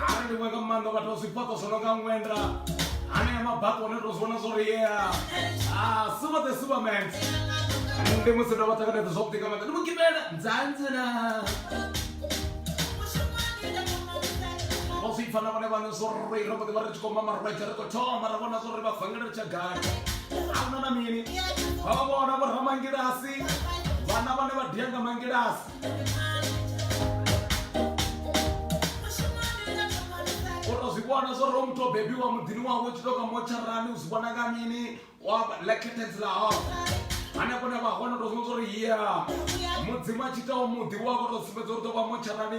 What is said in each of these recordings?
Arali ndi nga maanḓa vhathu vha zwifhaṱo zwo no nga ṅwenda hanea mabako one to zwi vhona zwo riea ah, some of the supermans ndi musi ndo vha ṱanganedza zwavhuḓi nga maanḓa ndi mugimela nzanzana vho zwi pfa na vhone vhane zwo ri ro mboḓi vha ri tshi khou mama rwedza ri khou thoma ra vhona zwo ri vha vangela ri tsha gai ahuna na mini vha vha vhona vho ramangilasi vhana vhane vha dia nga mangilasi o to zwi vhona zwo ri o muthu o bebiwa muḓini wawe u tshi toka motsharani u zwi vhona nga mini lekhetedzi la hao hanefho ne vha hone to zwiwa zwo ri ya mudzimu a tshi itaho muḓi wa vho to sumbedza uri ḓo vha motsharani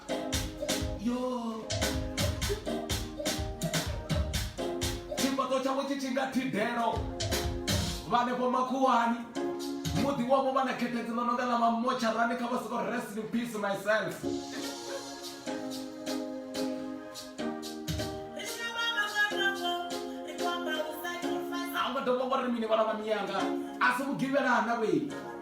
yo tshifhaṱo tshawe tshi tshinga thidelo vhanefho makhuwani muḓi wavho vha na khethedzo ḽo no nga ḽa mamotsharani kha vha soko rest in peace myself a nga dovha wa ri mini vhala vha miyanga a si mugivhelana vhei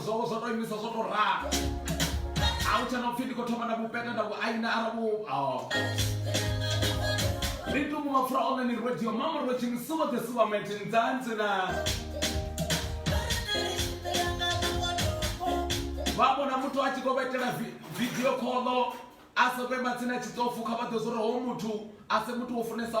zwo zwo to imisa zwo to ralo a u tsha na upfi ndi khou thoma na vhupeta nda vhuaina ara vhu oh. ri tungu mapfura one ni radio mama ro tshini suba the suba mate ndzanzi na vha vhona muthu a tshi khou vhetela video khoḽo a sa kwe matsini a tshi tsofu kha vha ḓe zwo ri ho muthu a se muthu wo funesa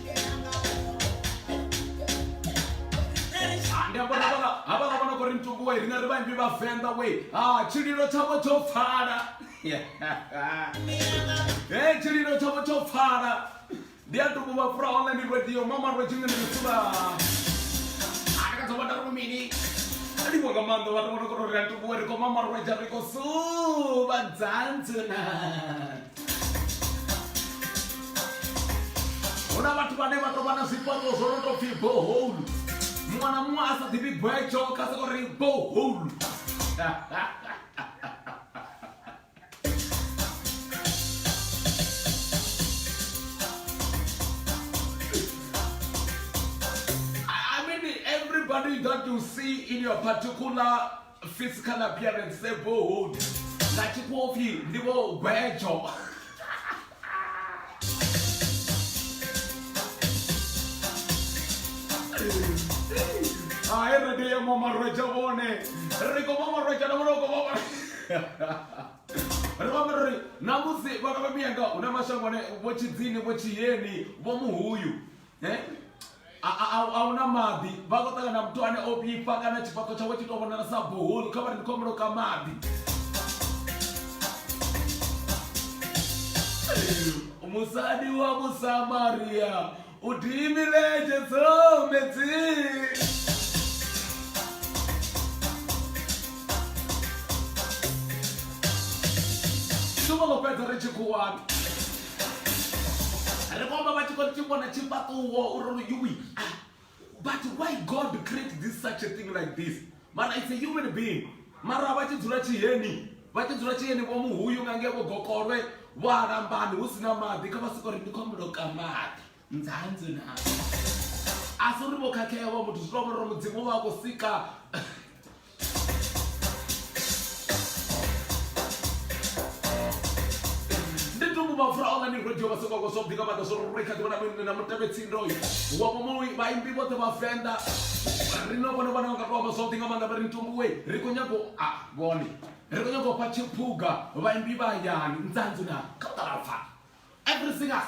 ndi amba uri havhala havhala vha no khou ri mtungu wei riṋe ri vhaimbi vhavenḓa wei ha tshililo tshavho tsho pfala he tshililo tshavho tsho pfala ndi a tuku vha fura online radio mama rwe tshingene mitsula atakadza vha tari mini alivho nga maanḓa vhathu vha no khou ri a tukuwe ri khou mama rweja ri khou suva dzantsuna hu na vhathu vhane vha tou vha na zwifhaṱo zwo no tou pfhi boholu muṅwe na muṅwe a sa ḓivhi gwetsho kha soko ri boholu I mean, everybody that you see in your particular physical appearance the bold na tshikofi ndi vho gwejo hayi ri tea mamarweja vone ri ko mamarweja na vhona ko mama ri vhambe ri namusi vhana vha miyanga hu na mashango ane vho tshidzini vho tshiyeni vho muhuyu Eh? A- a- a- a huna maḓi vha khou ṱangana na muthu ane o vhifha kana tshifhaṱo tshawe tshi tou vhonala sa boholu kha vha ri ndi khou muloka maḓi musadi wa musamaria u dimiletshe tsometsing shumo ḽo fhedza ri tshi khuwani ri vhomba vha tshi khou tshi vhona tshifhaṱuwo uri lu yuwi ah, but why god create this such a thing like this mana it's a human being mara vha tshi dzula tshiheni vha tshi dzula tshiheni vho muhuyu nga ngevho gokolwe vho alambani hu si na maḓi kha vha soko ri ndi khou ambulo ka maḓi nzanzu na a si uri vho khakhea vho muthu zwi tovhori mudzimu vha khou sika ndi tumbu mapfura online radio vha soko zwo bika vha zwo ri kha ḓivhona mini na mutevhe tsindoyo wa mumowi vhaimbi vhoṱhe vha fenda ri no vhona vhona nga tovha zwo ḓinga maanḓa vha ri ntumbu we ri khou nyago a vhone ri khou nyago fha tshiphuga vhaimbi vha yani nzanzu na kha u ṱalapfa everything us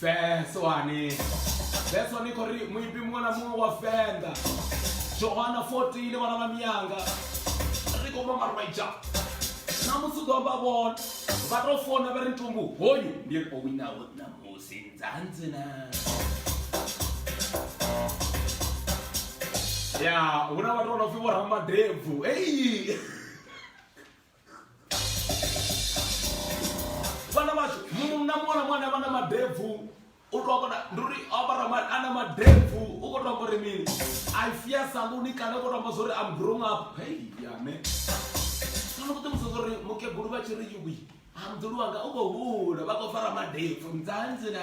feswani feswani kho ri muimbi muṅwe na muṅwe wa venḓa johana 14 le vhana vha miyanga ri khou mama rwaija na musi u ḓo amba vhona vha tou fona vha ri ntumbu hoyu ndi ri o winaho ṋamusi nzanzi na ya hu na vhathu vha no pfi vho ramadebvu ei vhana vhashu munna muṅwe na muṅwe vha na madebvu u tou kona ndi uri ambara a na madebvu u khou tou amba uri mini a i fia saluni kana u khou tou amba zwa uri am grown up hei yane kana ku ṱuwisa zwa uri mukegulu vha tshi ri yuwi amdulu wanga u khou hula vha khou fara madebvu mdzanzi na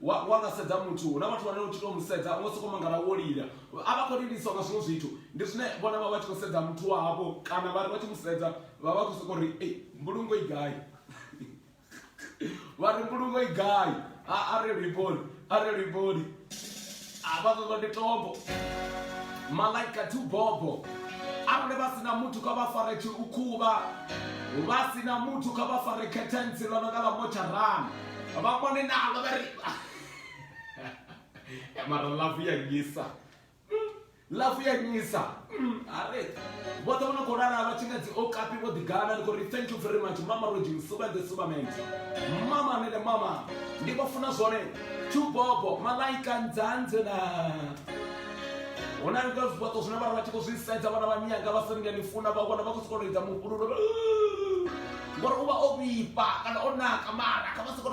wa wa nga sedza muthu hu na vhathu vhane u tshi tou mu sedza u nga sokou mangala wo lila a vha khou liliswa nga zwiṅwe zwithu ndi zwine vhona vha vha tshi khou sedza muthu wavho kana vha ri vha tshi mu sedza vha vha khou sokou ri ei mbulungo i gai vha ri mbulungo i gai a a re liboli a re liboli avha ṱoḓa ndi tombo malaika tu bobo arali vha sina muthu kha vha fare tshi u khuvha vha sina muthu kha vha fare khethensi ḽo no nga ḽa motsharana vha mone nalo vha ri mara lavu ya ngisa Ḽafu ya nyisa hareḓi vhoṱhe vho no khou lala vha tshi nga dzi okapi vho ḓigana ndi khou ri thank you very much mama roji msuba the superman mama nene mama ndi vho funa zwone tshubobo malaika ndzanze na hu na nga zwibaṱo zwine vhana vha tshi khou zwi sedza vhana vha miyanga vha senge ni funa vha vhona vha khou sokou lidza mufhululo ngori u vha o vhifha kana o naka mara kha vha sokou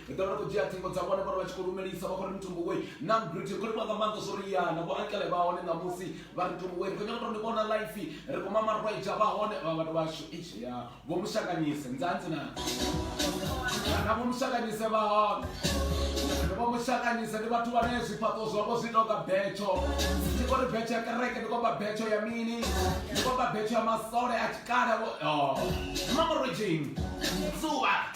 ri ḓo vha ri khou dzhia ṱhingo dza vhone vhone vha tshi khou lumelisa vha khou ri mthumbu wei na mbrite khou livha nga maanḓa zwo ri yana vho akele vha hone ṋamusi vha ri mthumbu wei ri khou nyanga tou ni vhona life ri khou mama rweja vha hone vha vhathu vhashu ishi ya vho mushakanyise nzanzi na na vho mushakanyise vha hone ndi vho mushakanyise ndi vhathu vhane zwifhaṱo zwavho zwi tonga betsho ndi khou ri betsho ya kereke ndi khou vha betsho ya mini ndi khou vha betsho ya masole a tshikale vho oh. mama rwejeni zuwa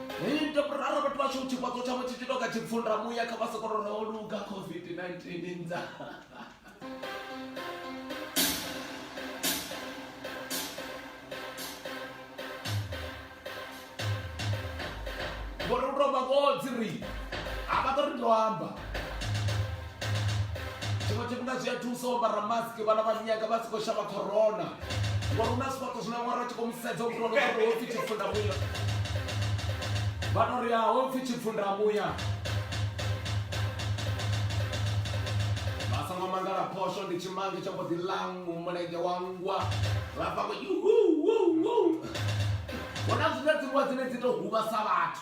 Ee, ndo rara vhathu vhashu tshifhaṱo tshavho tshi tshi tou nga tshipfunda muya kha vha soko ro ro luga covid-19 nza ngori u tou vha vhodzi ri a vha ḓo ri ndo amba tshiṅwe tshifhinga zwi a thusa u ambara mask vhana vha nyaga vha si khou shavha corona ngori hu na zwifhaṱo zwine ṅwana a tshi khou mu sedza muthu ano uri hopfi tshifunda muya vha no ri a hopfi tshifunda muya vha songo mangala phosho ndi tshimange tsha mbo ḓi ḽaṅu mulenzhe wa ngwa vha pako hu na zwine dziṅwe dzine dzi tou huvhasa vhathu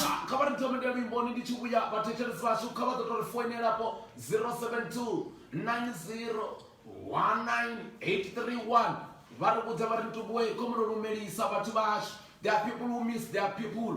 Ah, kha vha ri thome nda luimboni ndi tshi vhuya vhathetshelesi vhashu kha vha ḓo tou ri foinelapo 072 90 19831 vha ri vhudza vha ri ntukuwe khomuno lumelisa vhathu vhashu there are people who miss their people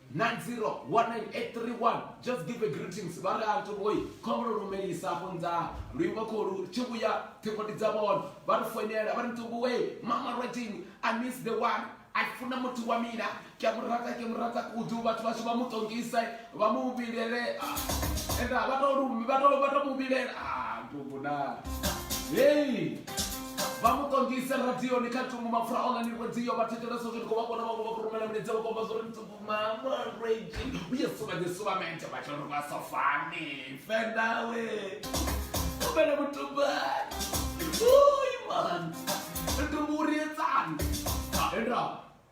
9019831 just give a greetings vha ri a tovhoyi khombo ro lumelisa afho nḓaha luimbo kho lu tshi vhuya ṱhingoni dza vhona vha ri foinela vha ri ntuvhuwe mama rotini i miss the one a funa muthu wa mina ke a mu rata ke mu rata kudu vhathu vhashu vha mu tongise vha mu vhilele enda vha to vha to vha to mu vhilela a ntuvhuna hei vha mu ṱongise radioni kha thungo mapfura online radio vha thetshelesa zwi ndi khou vha kona vhaṅwe vha khou rumela milaedza vha khou amba zwo ri mtsukumamrage uye suvanye suvamente vha tshi ri vha so fani fendawe fele mutumbani uy man ndumburietsani endao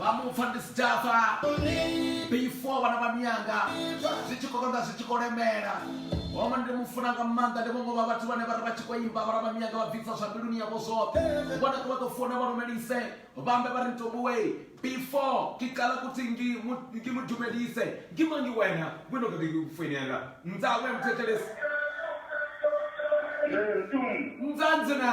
vha mupfa ndi si tshafa before vhana vha miyanga zwi tshi khou konḓa zwi tshi khou lemela home ndi mu funa nga maanḓa ndi vhongo vha vhathu vhane vha ri vha tshi khou imba vhana vha miyanga vha bvisa zwa mbiluni yavho zwoṱhe vhona vha ḓo funa vha lumelise vhambe vha ri ntobuwe before ke qala kuthi ngi mu dumelise ngi mangi wena wena ke ke kufoinela ndza we mthethelesi mzanzi na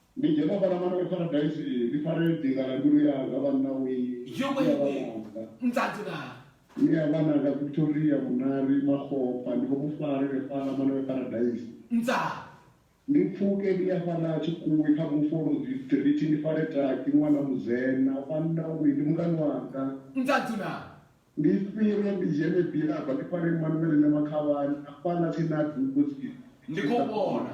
Ndi dzhena fhaḽa mara ri paradise iyi, ndi fare dinga ḽa mbilu yanga vhanna wee, Yo ni a vha wee, nanga. nḓadzi naa. Ni a vha nanga Victoria, Vhunari, Makgopa ndi khou mu fara ri fhaḽa mara ri paradise. Ndzaa. Ndi pfuke ndi ya fhaḽa Tshikhuwi kha Mufolozi street ndi fare Taki ṅwana Mudzena vhanna wee, ndi mungani wanga. Nḓadzi naa. Ndi fhire ndi dzhene Bilaba ndi fare Emmanuel Nyamakhavhani hafhaḽa tsini na Dubo tsini. Ndi khou vhona.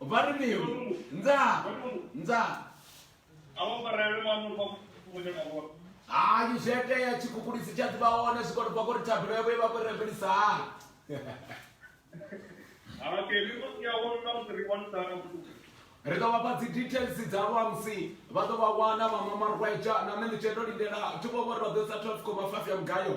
vha ri mini nza nza hayi zwi itea tshikhukhulisi tsha ḓivha hone zwi kone bva kori thabelo yavho i vha kori rembelisa hani ri ḓo vhafha dzi details dza lwamusi vha ḓo vha wana vha mamarweja na nṋe ndi tshendo lindela thi vho vhori vha ḓo isa 12 koma 5 ya mugayo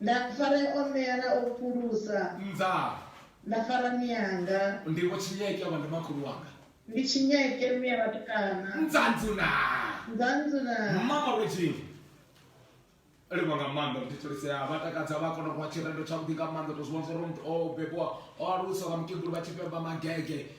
Nda fara i omela u fhulusa. Nda. Nda fara mianga. Ndi vho Tshinyeke avha ndi makhulu wanga. Ndi Tshinyeke mme a vhatukana. Ndzanzu na. Ndzanzu na. Mama lwe Jing. Livha nga maanḓa ndi thulisea vha takadza vha kona u vha tshirendo tshavhuḓi nga maanḓa tou zwi vhona zwa uri muthu o bebiwa o aluswa nga mukegulu vha tshi beba magege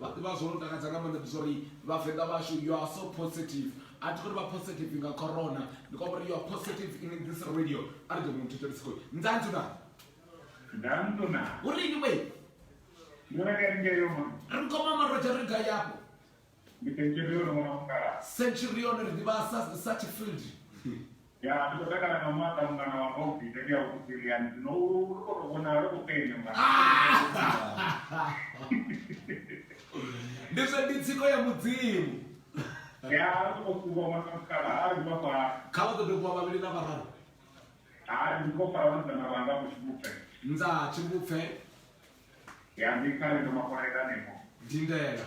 Vha ḓivha zwo no takadza nga maanḓa ndi zwa uri vhavenḓa vhashu you are so positive a thi khou ri vha positive nga corona ndi khou ri you are positive in this radio a ri ḓo mu thetsha ri si khou ndzanzu na ndzanzu na hu ri ni we ni re ka nge yo mama ri khou mama roja ri ga yapo ndi centurion mwana mukala centurion ri ḓivha sa sa field ya ndi khou takala nga maanḓa mungana wanga u ḓi tea u kusiliani zwino u ri kho to vhonala ri khou penya mungana ndi zwa ndi tsiko ya mudzimu ya ri khou kuba mwana mukala ha ri vha fara kha vha ṱoḓe kuba vhavhili na vhararu ha ri khou fara vhasidzana vhanga ku tshibupfe ndza tshibupfe ya ndi kha ri ndo makolela nemo ndindela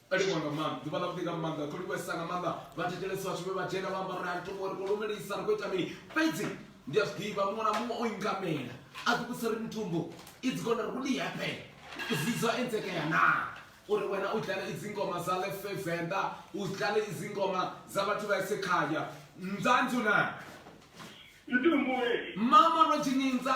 o livhuwa nga maanḓa ḓuvha ḽa vhuḓi nga maanḓa kho livhuwesa nga maanḓa vha thetshelesi vhathu vhe vha dzhena vha amba uri a thoma uri kho lumelisa ri khou ita mini fhedzi ndi a zwi ḓivha muṅwe na muṅwe o ingamela a ḓi vhusa ri mitumbu i dzi kona ri kuli happen zizwa enzekea naa uri wena u dlale izingoma za lefe venḓa u dlale izingoma za vhathu vha esekhaya nzanzu na mama rojininza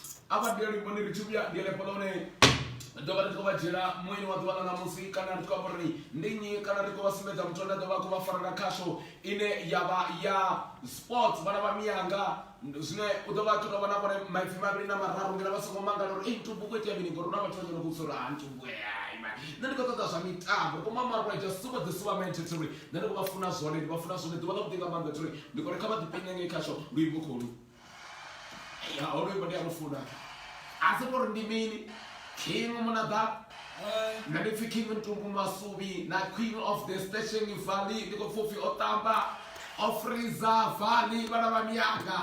a vha ndi livho ni ri tshi vhuya ndi ḽefho ḽone ḓo vha ri khou vha dzhiela mueni wa ḓuvha ḽa ṋamusi kana ri khou amba uri ndi nnyi kana ri khou vha sumbedza muthu ane a ḓo vha khou vha farela khasho ine ya vha ya sports vhana vha miyanga zwine u ḓo vha ṱuta vhona vhone maipfi mavhili na mararu ngena vha songo mangala uri ei ntubu ku itea mini ngori hu na vhathu vhanyana kusa uri ha ntubu eaima nṋe ndi khou ṱoḓa zwa mitambo ri khou mamarwa just super the super man thethri nṋe ndi khou vha funa zwone ndi vha funa zwone ḓuvha ḽa vhuḓi nga maanḓa thri ndi khou ri kha vha ḓipenyange khasho luimbo kholu ya honoyo mbo ndi a mu funa a si tori ndi mini king munada na ndi pfi king ntumbu masubi na queen of the station valley ndi khou pfi upfi o tamba o friza valley vhana vha miyanga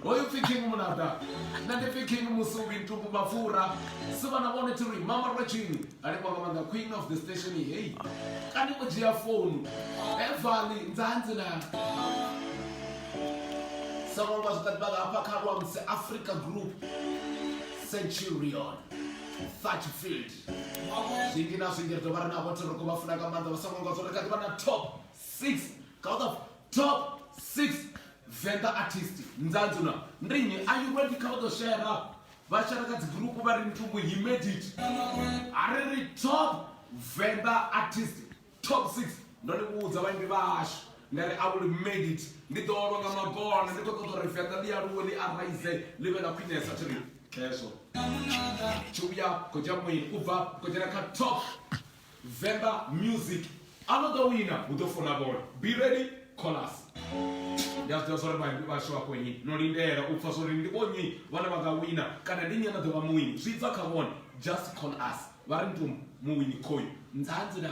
hoyu pfi king munada na ndi pfi king musubi ntumbu mapfura si vhana vhone thiri mama rwetshini hanefho nga maanḓa queen of the station hei kani o dzhia founu evali nzanzi na sangwangwa zwikatibaga hafha kha luamse africa group centurion thatchfield zwingi na zwingi ri dovha ri navho thiroko vha funa nga maanḓa vha sangwangwa zwo ri kha ḓivha na top six kaoda top six venda artist nzanzi na ndi nnyi are you ready kha vha ḓo shera vashanda ka dzigurupu vha ri mthungu he made it a ri ri top venḓa artist top 6 ndo ni vhudza vhaimbi vhashu nda ri a will made it ndi ḓo olwa nga magona ndi khou ṱoḓa uri venḓa ḽi aluwe ḽi araise ḽi vhe ḽa khwinesa thi ri khezwo tshi vhuya khodzha muyi u bva khodzhena kha top Vemba music a no ḓo wina hu ḓo funa bola be ready chorus ndi a zwi ḓivha zwa uri vhashu vhakho nyi no lindela u pfa zwa uri ndi vhonyi vhane vha nga wina kana ndi nyi a no ḓovha muwini zwi bva kha vhone just call us vha ri ntum muwini khoyu nzanzi na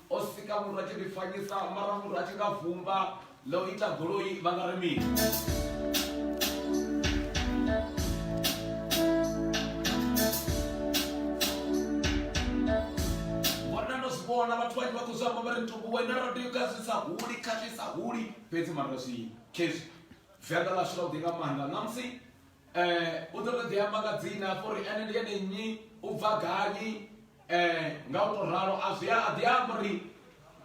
o sika muthu a tshi ḓifanyisa mara muthu a tshi nga vumba ḽa u ita goloi vha nga ri mini vhona vhathu vhanzhi vha khou zwi amba vha ri ntuku wena radio ka zwi sa huli kha zwi sa huli fhedzi mara zwi khezwi venḓa ḽashu ḽa u ḓi nga maanḓa ṋamusi U ḓo tou ḓi amba nga dzina afho uri ene ndi ene nnyi, u bva gani nga u tou ralo. A zwi a ḓi amba uri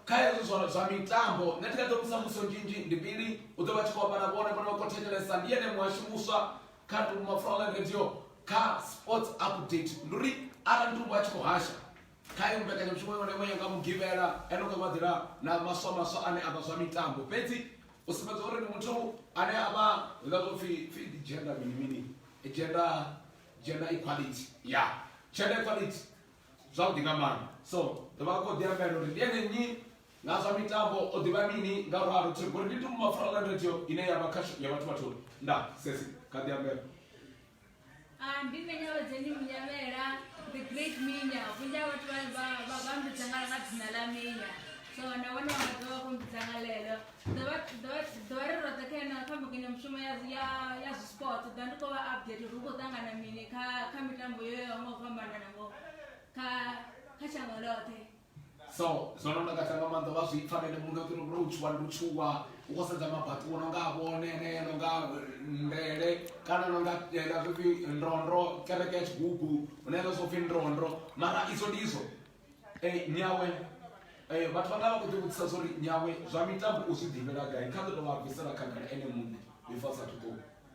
kha hezwi zwa zwa mitambo nṋe thi nga ḓo mu isa mbudziso nnzhi nnzhi ndi mbili. U ḓo vha a tshi khou amba na vhone, vhone vha khou thetshelesa. Ndi ene muhashi muswa kha Mapfura Online Radio kha Sports Update. Ndi uri arali Mutumbu a tshi khou hasha kha heyo mbekanyamushumo iṅwe na iṅwe ya nga Mugivhela ene u ḓo vha ḓela na maswa maswa ane a vha zwa mitambo fhedzi. u sumbedza uri ndi muthu ane a vha zwiḽa zwo pfhi pfhi ndi gender mini mini gender gender equality ya gender equality zwavhuḓi nga maanḓa so ḓo vha khou ḓi ambela uri ndi ene nnyi nga zwa mitambo o ḓivha mini nga ralo thi ngori ndi tumbu mapfura online radio ine ya vha kha ya vhathu vhathu nda sesi kha ḓi ambela Ah, ndi nṋe nyavhadzeni munyavhela the great minya vhunzhi ha vhathu vha- vha- vha vha mbidza nga nga dzina ḽa minya so na vhone vha nga ḓovha vho mbidza nga ḽeḽo ḓovha ḓovha- ḓovha ri roṱhe kha ena kha mbekanyamushumo ya ya ya zwi sports ḓa ndi khou vha update uri hu khou ṱangana mini kha kha mitambo yo yaho nga u fhambanana ngo kha kha shango ḽoṱhe so zwo no takadza nga maanḓa vha zwi pfa nene muṋe uri ro tshuwa ndi tshuwa u khou sedza mabaṱu no nga vhone enea no nga ndele kana no nga ela zwo pfhi ndondro kereke ya tshigugu hune ela zwo pfhi ndondro mara idzo ndi idzo um nyawe um vhathu vha nga vha khou ḓi vhudzisa zwa uri nyawe zwa mitambo u zwi ḓivhela gai kha ḓi tou vha bvisela khagala ene muṋe before a sathu ṱuwa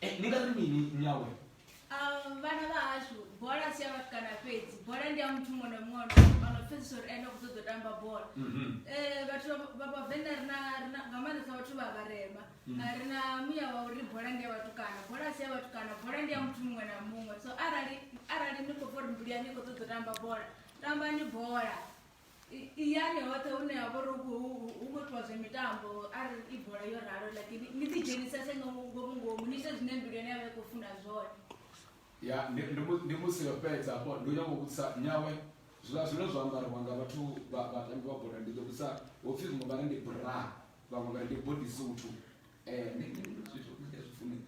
Eh, ni nga ri mini nyawe Ah, vhana vha hashu bola si ya vhatukana fhedzi bola ndi ya muthu muṅwe na muṅwe ano- ano pfesesa uri ene u khou ṱoḓa u tamba bola Mhm. Eh, vhathu vha- vha vhavenḓa ri na- ri na- nga maanḓesa vhathu vha vharema Mm. Ah, ri na muya wa uri bola ndi ya vhatukana bola si ya vhatukana bola ndi ya muthu muṅwe na muṅwe so arali arali ni khou bva uri mbuli yani i khou ṱoḓa u tamba bola tambani bola iyani hoṱhe hune ha vha uri hu khou itiwa zwa mitambo a ri i bola yo ralo like ni ḓi dzhenisese ngomu ngomu ni ite zwine mbilu yane ya vha i khou funa zwone ya ndi musi yo fhedza afho ndi u nyanga u vhudzisa nyawe zwiḽa zwine zwa ambariwa nga vhathu vhatambi vha bola ndi ḓo vhudzisa ho pfhi vhaṅwe vha ri ndi bra vhaṅwe vha ri ndi body suthu um zwithu zwi fune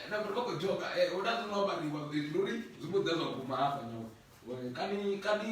na vha khou dzhoga hu na zwino ambariwa luri zwi mbo ḓa zwa guma hafha nyawe kani kani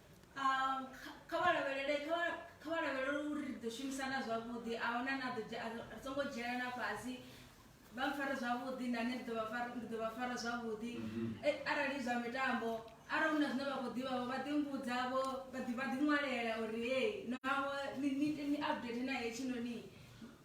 Um, kha- kha vha lavhelele kha vha- kha vha lavhelele uri ri ḓo shumisana zwavhuḓi a huna na ḓo dzhia- a ri ri songo dzhielana fhasi vha mpfare zwavhuḓi na nṋe ndi ḓo vha fara- ndi ḓo vha fara zwavhuḓi Eh, arali zwa mitambo arali hu na zwine vha khou ḓivhavho vha ḓi mbudzavho vha ḓi vha ḓi ṅwalela uri hei naho ni- ni ni update na hetshinoni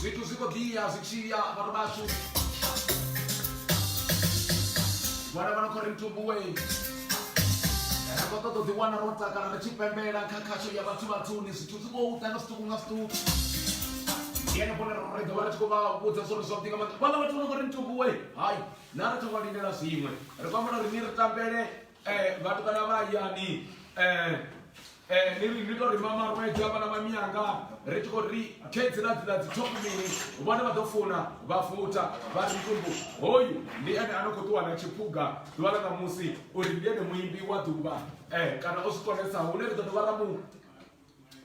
zwithu zwi khou ḓiya zwi tshiya vhathu vhashu vhana vha no khou ri ntubuwe ri khou ṱoḓa u ḓiwana ro takala ri tshi pembela kha khasho ya vhathu vhathuni zwithu zwi khou ḓa nga zwiṱuku nga zwiṱuku yene vhone ri ḓo vha ri tshi khou vha vhudza zwo ri zwavhuḓi nga maanḓa vhala vhathu vha no khou ri ntubuwe hai na ri thoma lindela zwiṅwe ri khou ambela uri ni ri tambele eh, vhathu vhana vha hayani eh, eh, ni ni tou ri mamarwedza vhana vha miyanga ri tshi khou ri khedzi na dzila dzi top mini vhone vha ḓo funa vha futa vha ri tumbu hoyu ndi ene a no khou ṱuwa na tshiphuga ḓuvha ḽa ṋamusi uri ndi ene muimbi wa ḓuvha eh, kana o zwi konesa hune ri ḓo dovha ra mu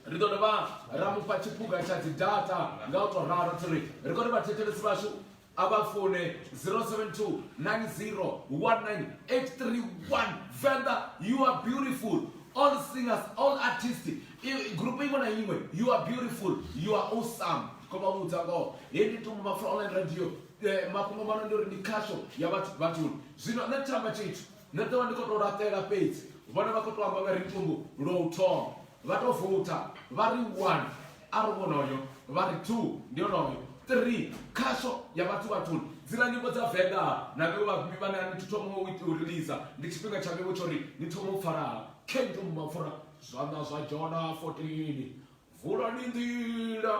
ri ḓo dovha ra mufha tshiphuga tsha dzi data nga u tou ralo tsiri ri khou ri vhathetshelesi vhashu a vha foune 072 9019831 venḓa you are beautiful all singers all artists grupu iṅwe na iṅwe you are beautiful you are awesome ko vha vhudza ngoho hei ndi tumbu mapfura online radio eh, mafhungo mano ndi uri ndi khasho ya vhathu vhathuni zwino nṋe ndi tamba tshithu Nṋe ndo vha ndi khou tou laṱela fhedzi vhone vha khou tou amba vha ri thumbu lwa u thoma vha tou vutha vha ri one a ri vhonoyo vha ri two ndi onoyo three khasho ya vhathu vhathuni dzila nyimbo dza venḓa na vhewe vhafhimi vhane a ni thi thoma u ita u rilisa ndi tshifhinga tsha vhewe tsho ri ni thoma u pfalaha khendum mapfura zwanḓa zwa jona 14 vulani nḓila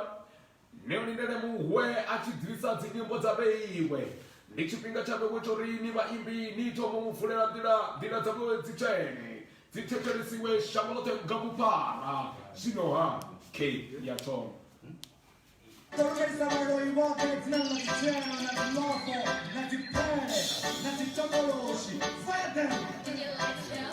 Ni lindele muhwe a tshi ḓisa dzinyimbo dza vheiwe. Ndi tshifhinga tsha vhewe tsho ri ni vhaimbi ni thome u mu vulela nḓila, nḓila dza vhewe dzi tswene, dzi thetshelesiwe shango ḽoṱhe nga vhuphara. Zwino-ha, key ya thoma. Ṱalutshedza vhaloi vhoṱhe dzina ḽa dzitshena na dziḽofo na dzipfele na dzitokoloshi. Fire them!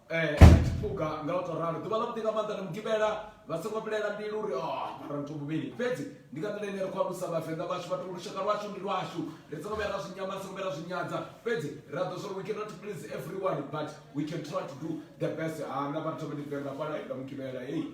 eh a tshi pfuka nga u to ralo ḓuvha ḽa vhuḓi nga maanḓa na mugivhela vha songo vhilela mbilu uri o ah, mara muthu muvhili fhedzi ndi nga nḓila ine ri khou alusa vhavenḓa vhashu vhathu lushaka lwashu ndi lwashu ri songo vhuya ra zwi nyama songo vhuya ra zwi nyadza fhedzi ra ḓo zwori we cannot please everyone but we can try to do the best ha na vhathu vha ndi venga fhala nga mugivhela heyi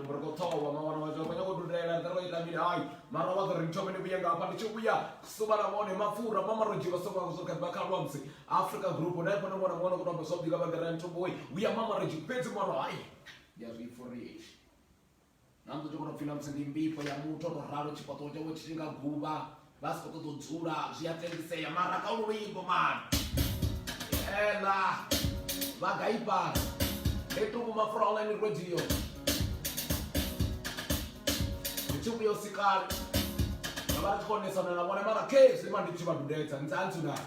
ri khou ṱhowa mawana wadzo vha khou nyanga u dudela nṱha lwa ita mini hayi mara wa ḓo ri thome ni vhuye nga hafha ndi tshi vhuya suba na vhone mapfura mama ro dzhiwa songo zwo kha kha lwamsi africa group na ifho na vhona mwana ku tamba sobi ka vha gara nthu boy vhuya mama ro dzhiwa fhedzi mwana hayi ya zwi foriye na ndo tshi kho pfina musi ndi mbifho ya muthu ro ralo tshifhaṱuwo tshawe tshi tshi nga guvha vha soko ḓo dzula zwi a tendisea mara kha lu luimbo mani ela vha gaibana etuku mafura online radio youtube yo sikala na vha ri khou onesana na vhone mara khezwi ma ndi tshi vha dudedza ntsantsu na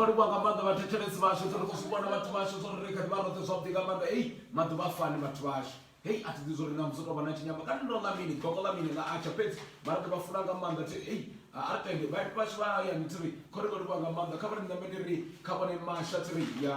Vho livhuwa nga maanḓa vhathetshelesi vhashu zwo ri khou zwi vhona vhathu vhashu zwo ri ri kha ḓi vha roṱhe zwavhuḓi nga maanḓa hei maḓuvha a fani vhathu vhashu hei a thi ḓi zwo ri na musi tou vha na tshinyama kana ndo ḽa mini gogo ḽa mini ḽa atsha fhedzi vha ri ḓo vha funa nga maanḓa thi hei a ri tende vhaiti vhashu vha hayani thi ri kho ri vho livhuwa nga maanḓa kha vha ri ṋambe ndi ri kha vhone masha thi ri ya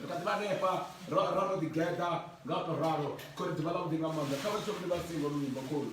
ri kha ḓi vha hanefha ra ra ro ḓigeḓa nga u tou ralo khori ḓuvha ḽa vhuḓi nga maanḓa kha vha tsho vhuli vha singo luimbo khori